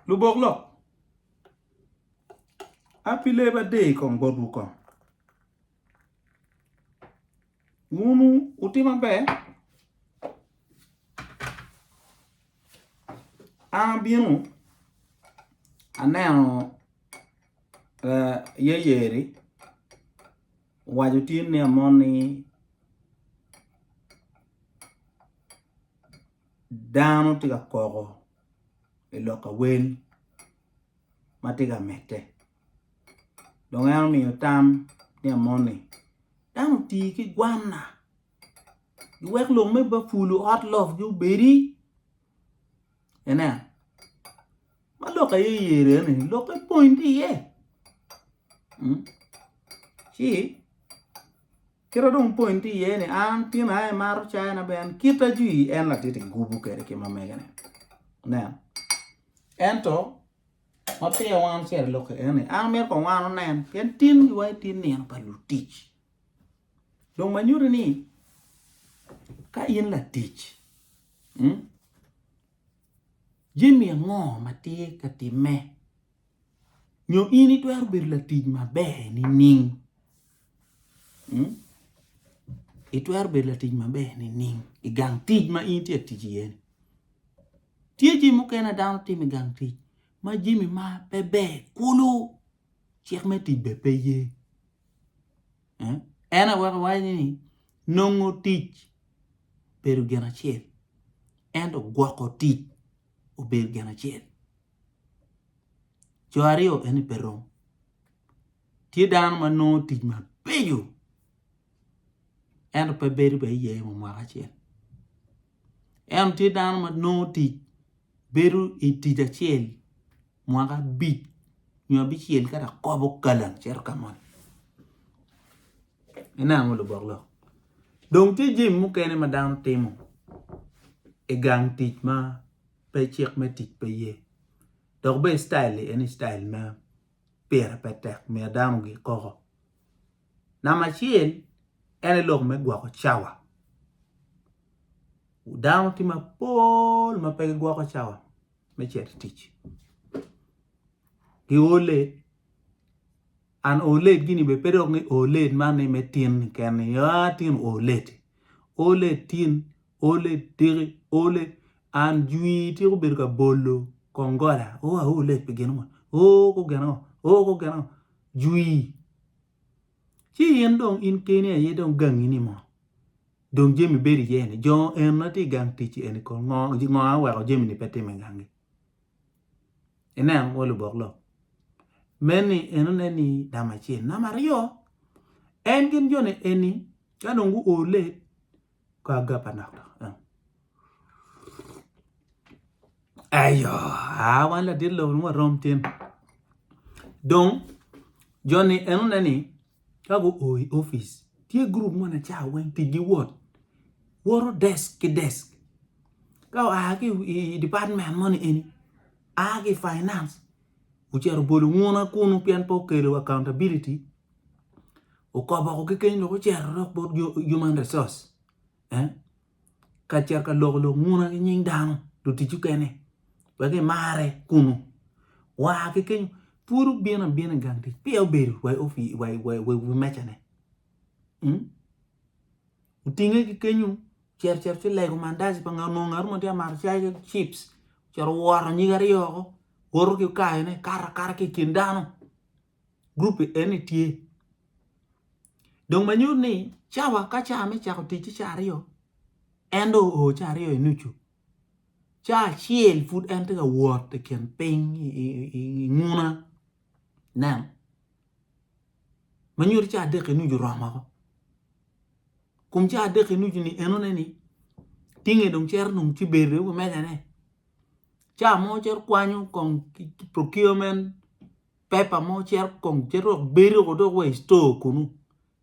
Lubok lok, A pi lee ba deyi kong botwu kong. Wun wutye maber, an abino aneno yeyeri owaco tye ni amoni. dano tye ka koko i lok awel ma tye ka medde dong en omiyo tam ni amoni dano oti ki gwanna giwek lok me bapulo ot lok-gi obedi ineno. ma lok aye yer aye ni lok epwony ki iye ci kite dong pwony ki iye ni an tin aye maro cayi na ben kit ajwi en latiti gubu kede ki ma mege ne nen ento ma piya wan ocito lok aye ni an amito kong wan onen pien tin gi wa tye nino pa lutic dong ma nyuti ni ka in latic. Jami ango ma tye ka timme? Nyo in itwero bedo latic maber nining? Hmm? Itwero bedo latic maber nining i gang tic ma in tye ka tic iye-ni? Tye jami mukene dano timo i gang tic ma jami ma pe ber kulu. Cik me tic bene pe ye. En aye weko waco ni nongo tic bedo gin acel, ento gwoko tic obedo gin acel. Co aryo eni pe rom. Tye dano ma nongo tic mabeco ento pe bedo bene iye wa mwaka acel. Ento tye dano ma nongo tic bedo i tic acel. mwaka abic nyo abicel ka dok kobo kalam cito ka moni inen ango lubok lok dong tye jami mukene ma dano timo i gang tic ma pe cik me tic pe ye dok bene cityle-li en cityle ma pire pe tek myero dano ogik koko namba acel en aye lok me gwoko cawa dano tye mapol ma pe gigwoko cawa. me cito i tic. Gi oo late. An oo late gini be pe dok ni oo late man ni me tin ni ken ni ah tin oo late. Oo late tin, oo late tiki, oo late an jwi tiko bedo ka bolo kong gola. Oo a oo late pi gin mo. Oo ko gin ango? Oo ko gin ango? Jwi. Ci in dong in keni aye dong gangi ni mo dong jami bedo iye ni jo eni ma tye i gang tic eni kong ngo ngo a oweko jami ni pe timo i gangi ineno wa lubok lok meni enone ni namba acel namba aryo en gin joni eni ka dong guole Ka agap anak dok. Ayo, aa wan ladit lobo nwa rom tin. Dong, joni en one ni, ka gu o i office, tye group mo na ca weng tic gi wot. Woto desk ki desk. Ka oa ki i department mo ni eni, aa ki finance, ocero bolo nguna kunu pien pe okelo accountability. okobo oko kekeni lok ocero dok bot human resource eh? ka cito ka loko lok nguna ki nying dano lutic okene wek imare kunu wa kekeny pud obino abina i gang tic piya obedo wi mecane hmm? otinge kekenyu cito cito ci lego mandaci pa ngat ngat ma tye amato cai ki chips cito woro nyige aryo oko woto ki kayone kato akata ki i kin dano gurup eni tye dong ma nyuto ni cawa ka cawa me cako tic ci cawa aryo en do oo cawa aryo i nucu cawa acel pud en tye ka wot i kin piny i nguna nen ma nyuto cawa adek i nucu oromo woko kun cawa adek i nucu ni enone ni tinge dong cito dong ci bedo i wi mejane cawa mo cito kwanyo kong procurement Paper mo cito kong cito dok bedo ko dok wa i store kunu.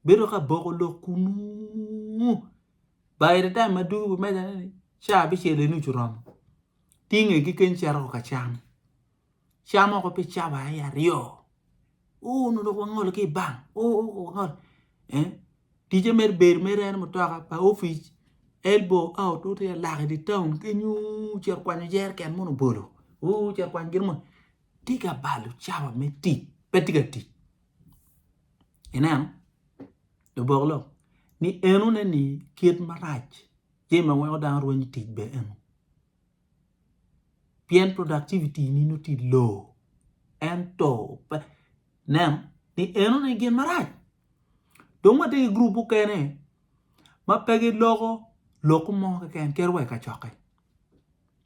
Bedo ka boko lok kunu. By the time ma dugu meja ni ca abicel eni ucu romo. Tinge ki ken cito ko ka cam. Cam oko pi cawa aye aryo. Oh no dok wangolo ki bang. Oh oh wangolo. Eh? Tije mer bedo mer en mutoka pa office elbow out uti alak di town kenyu cito kwanyo jerken mono bolo. Oh cito kwanyo gin mo. tye ka balo cawa me tic pe tye ka tic ineno lubok lok ni eno ne ni kit marac tye ma weko dano rwenyo tic be eno pien productivity ni nongo tye low ento pe ineno ni eno ne gin marac dong watye ki gurup mukene ma pe giloko lok mo keken kit wa i kacokke.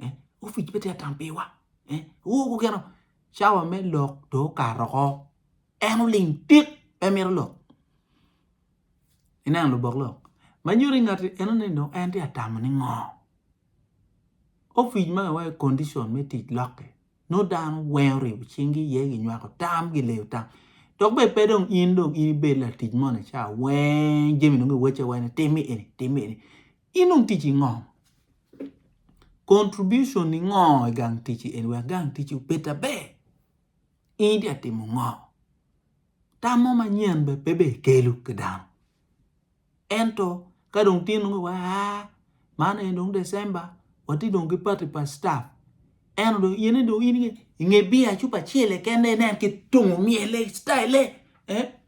eh? opic pe tye atam piwa eh? ogo geno cawa me lok to okato oko en oling tik pe mito lok ineno lubok lok ma nyuto i ngati eno ni dong en tye atamo ni ngo opic ma iwayo condition me tic lokke no dano weng oribo cingi iye ginywako tam gileyo tam dok bene pe dong in dong in ibed latic moni ca weng jami dong iwacce wene timmi eni timmi eni Inong tic i ngom? Contribution ni ngo i gang tic i en wek gang tic obed aber? In itye ka timo ngo? Tam mo manyen be pe be kelu ki dano. Ento ka dong tye nongo wa man en dong December wati dong ki party pa staff. En dong yene dong in inge biya cupa chile kende nen ki tungu miele style eh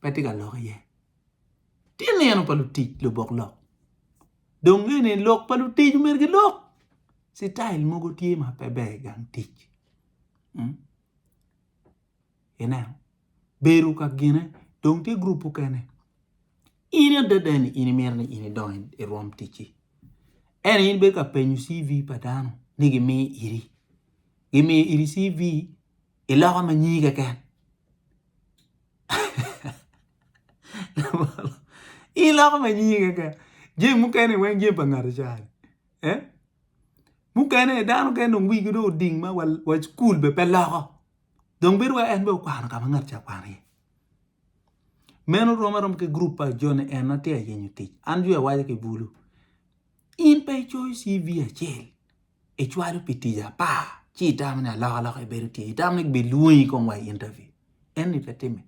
pe tye ka lok iye. Tye nino pa lutic lubok lok dong nge ni lok pa lutic myero gilok citayil mogo tye ma pe ber i gang tic ineno bedo ka gine dong tye gurup mukene in adada ni in imito ni in idong irwom ticci ento in bedo ka penyo CV pa dano ni gimi iri gimiyo iri CV i loka ma nyingi keken i loka ma nyingi keken jami mukene weng jami pa ngati cani eh mukene dano mukene dong wigi dong oding ma wa cukul bene pe loko dong bedo wai en bene okwano ka ma ngat ca kwano iye meno rom aroma ki gurup pa joni en atye ka yenyo tic an jwi awaco ki bulu in pe icoyo CV acel icwalo pi tic apar ci itamo ni alok alok aye bedo tye itamo ni gibi lwongi kong wa i interview eni pe timme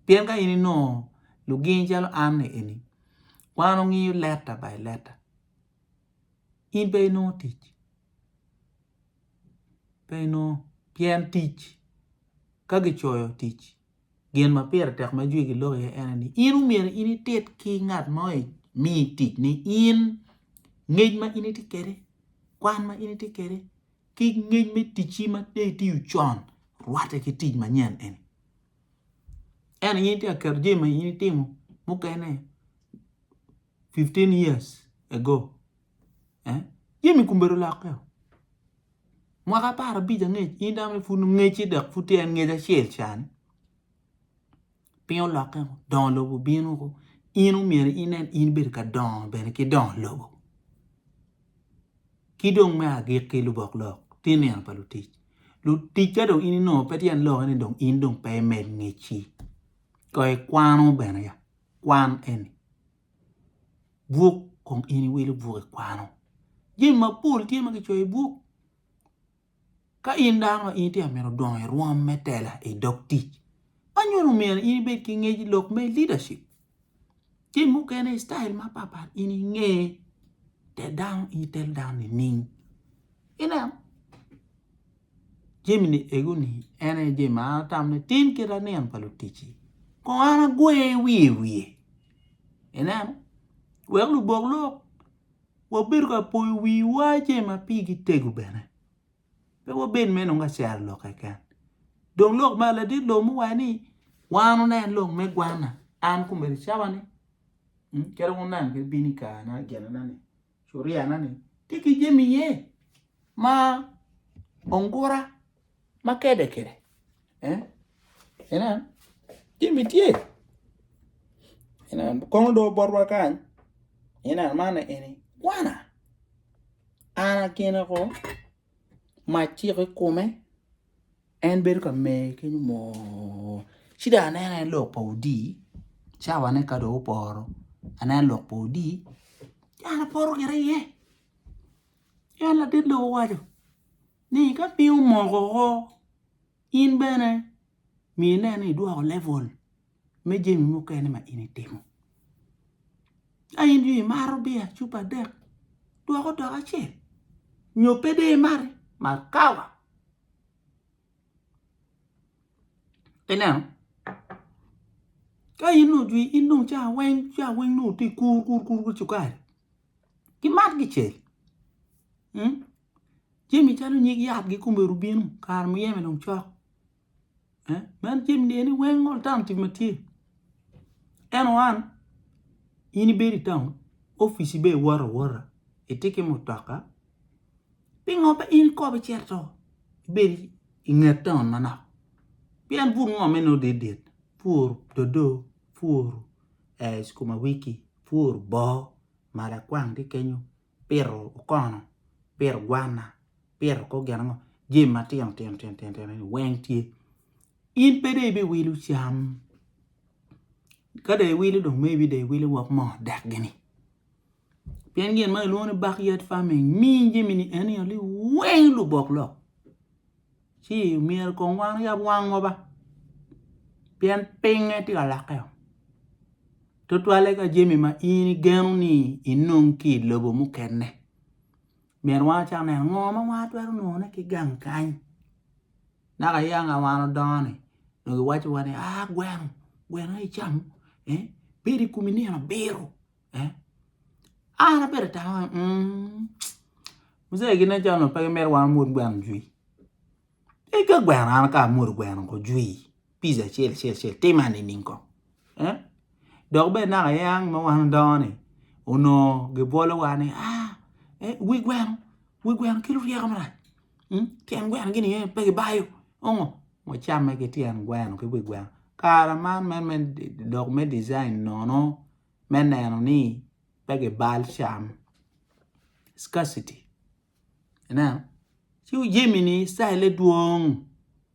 pien ka in inongo lugingi calo an ni eni wan wangiyo leta by leta in pe inongo tic pe inongo pien tic ka gicoyo tic Gin ma pire tek ma jwigi lok iye en eni, in omyero in itit ki ngat mo imi tic ni in ngec ma in itye kede, kwan ma in itye kede, ki ngec me ticci ma de itiyo con rwate ki tic manyen eni. Eno in itye ka keto jami ma in itimo mukene 15 years ago. Jami kombedo olokke. Mwaka apar abic angec, in dano ni pud ngeci dok pud tye en ngec acel can. Piny olokke, dongo lobo bino ko. In omyero inen in bedo ka dongo bene ki dongo lobo. Ki dong me agikki lubok lok, tye nino pa lutic. Lutic ka dong in inongo pe tyen lokke ni dong in dong pe imed ngeci. Koy ikwano bene ya, kwan eni. buk kong in iwilo buk ikwano jami mapol tye ma kicoyo i buk ka in dano ma in tye ka mito dongo i rwom me tela i dog tic ma nyo omyero in ibed ki ngec lok me leadership jami mukene i style mapatpat in inge te dano itel dano nining ineno Jami-ni ego-ni en aye jami ma an atamo ni tim kit lanen pa luticci, kong an agwe wiye i wiye. Ineno? Wek lubok lok wabed ka poyo wiwa jami ma pigi tego bene, pe wabed mere nongo ka cero lok keken. Dong lok ma ladit lok me waco ni wan wunen lok me gwanna, an kombeddi cawa ni calo wunen kit bino i kare-na ginena-ni. Curiana ni tye ki jami iye ma ongura ma kede kede. Inen, jami tye. Inen, kono dong botwa kany, inen man aye eni kwana. An akine ko, mac ciko i kome. En bedo ka mer kenyo moo, ci dong aneno en lok pa odii cawane ka dong oporo aneno lok pa odii ci an apoto gire iye ci en ladit lobo owaco ni ka piny omoko woko in bene myero ine ni idwoko level me jami mukene ma in itimo ka in dong imato biya cupa adek dwok odok acel nyo pe dong imati mat kawa. Ineno? Ka in dong ojwi in dong ca weng ca weng nongo tye kur kur kur ki cukari ki mat ki cel jami calo nyig yat gikomero bino kare muyeme dong cok. Man jami eni weng ma alternative ma tye ento an in ibedo i taun opici bene iwoto awota itye ki mutoka pingo pe in ikobo icito ibed i nget taun manok pien but ngo ma inongo dit dit pur dodo, pur sukuma wiki, pur boo malakwang tye kenyo. pito okono, pito gwanna, pito kor gin ango, jami matino tino tino tino tino ni weng tye. In pe dong ibiwilo cam, ka dong iwilo dong maybe dong iwilo wok moo dek gini. Pien gin ma kilwongo ni backyard farming miyo jamini eni weng lubok lok. ci myero kong wan oyab wangwa ba pien pinge tye ka lokke tutwalle ka jami ma in igeno ni inong ki i lobo mukene myero wan wacak neno ngo ma wan watwero nongone ki gang kany naka yaka wan odongo ni onongo kiwaco wa ni a gweno, gweno aye icam pire i komi nino abiro. Eh? An abedo atamo, mm, mzee gin acan no pe gimito wan omwod gweno jwi. E ka gweno an ka amwodo gweno ko jwi, pizza acel acel acel tima nining ko? Eh? Dok bene naka yang ma wan odongo ni, onongo gibolowa ni, ah, eh, wi gweno, wi gweno kelo ryeko marac. Mm? Tyen gweno gini eh, pe gibayo. Ongo, wacamme ki tyen gweno ki wi gweno. Kara man men me dok me design nono. me neno ni pe gibal cam, scarcity. Ineno? Ci jami-ni calle dwong,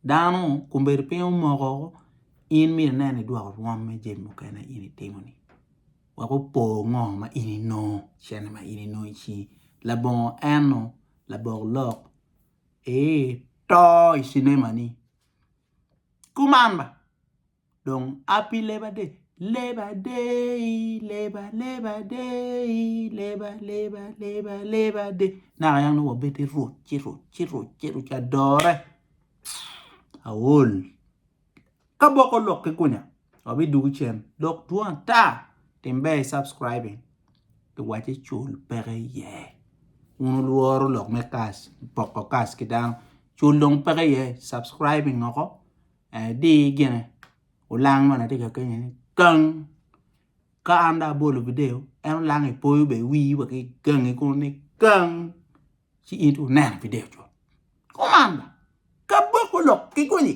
dano kombeddi piny omoko, in myero ine ni idwoko rwom me jami mukene ma in itimo-ni wek opo ngo ma in inongo, cente ma in inongo i cingi. Labongo enno, labok lok, ee to i cinema-ni. Kuman ba! Dong api leba de, leba dei, leba leba dei, leba leba leba leba de. Naka yam nongo wabedo i rwot, ci rwot, ci rwot, ci rwot, ci adore. Aol. Ka boko lok ki kunya, wabidugu cen. Dok dwong ata, tim ber i subscribing. Iwace cul peke iye. Un ulworo lok me kas, poko kas ki dano. Cul dong peke iye, subscribing oko. Di gine olang moni atye ka kenge ni gang ka an dong abolo video en olang ipoyo bene wii wa ki gangi kunu ni gang ci in twero neno video cut kuman kaboko lok kigonyi.